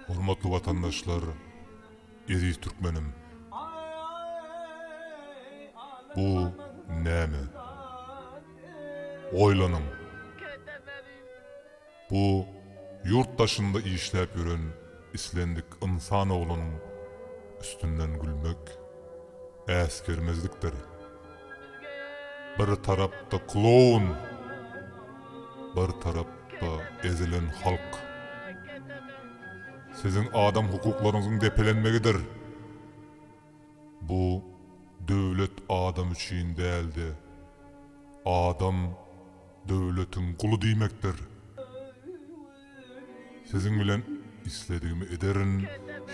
Hormatly watandaşlar, eziz türkmenim! Bu näme? Oýlanyň! Bu ýurt daşynda işläp ýören islendik ynsan oglunyň üstünden gülmek äsgermezlikdir. Bir tarapda kloun, bir tarapda ezilen halk. Siziň adam hukuklaryňyzyň depelenmegidir. Bu döwlet adam üçin däldi. Adam döwletiň guly diýmekdir. Siziň bilen isledigimi ederin,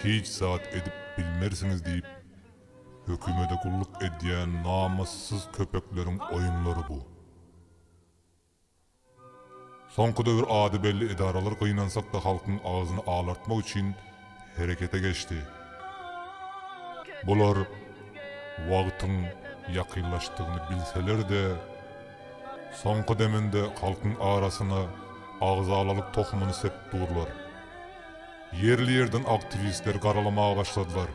hiç zat edip bilmersiňiz diýip Hökümede gulluk edýän namyssyz köpekleriň oýunlary bu. Soňky döwür ady belli edaralar gynansakda halkyň agzyny alartmak üçin herekete geçdi. Bular wagtyň ýakynlaşdygyny bilseler-de, soňky deminde halkyň arasyna agzalalyk tohumyny sepip durlar. Ýerli-ýerden aktiwistleri garalamaga başladylar.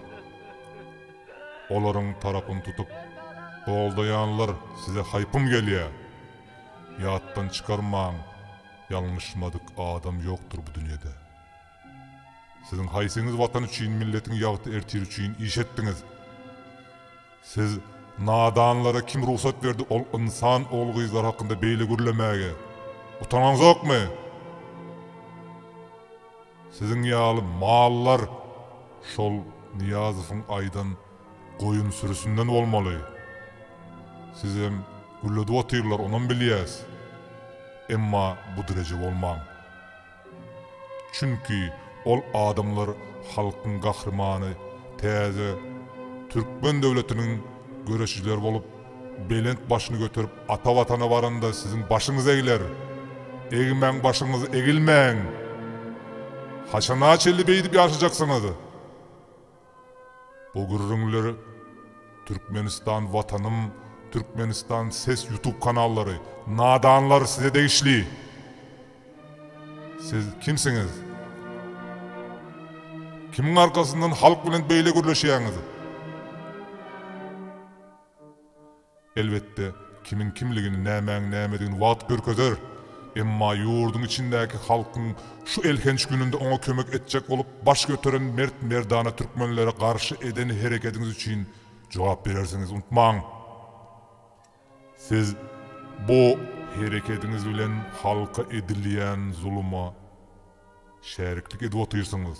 Olaryň tarapyny tutup, Goldaýanlar size haýpym gelýär! Ýatdan çykarmaň, ýalňyşmadyk adam ýokdur bu dünýede. Siziň haýsyňyz Watan üçin, milletiň ýagty-ertiri üçin iş etdiňiz? Siz nadanlara kim rugsat berdi ol ynsan ogul-gyzlar hakynda beýle gürlemäge? Utanaňzokmy? Siziň ýaly mallar şol Nyýazowyň aýdan goýun sürüsinden bolmaly. Sizem gülledip otyrlar, onam bilýäs. Emma bu dereje bolmaň. Çünki ol adamlar halkyň gahrymany, täze Türkmen döwletiniň göreşijileri bolup, Belent başyny göterip ata watana baranda siziň başyňyz egler. Egmäň başyňyz egilmäň. Haçana çenli beýdip ýaşajaksyňyz? Bu gürrüňler Türkmenistan watanym Türkmenistan ses ýutub kanallary nadanlar size degişli. Siz kimsiňiz? Kimiň arkasyndan halk bilen beýle gürleşýäňiz? Elbetde, kimiň kimligini, nämäň nämedigini wagt görkezer. Emma ýurduň içindäki halkyň şu elhenç gününde oňa kömek etjek bolup baş göteren mert-merdana türkmenlere garşy eden herekediňiz üçin jogap berersiňiz, unutmaň! Siz bu. Herekediňiz bilen halka edilýän zuluma şäriklik edip otyrsyňyz.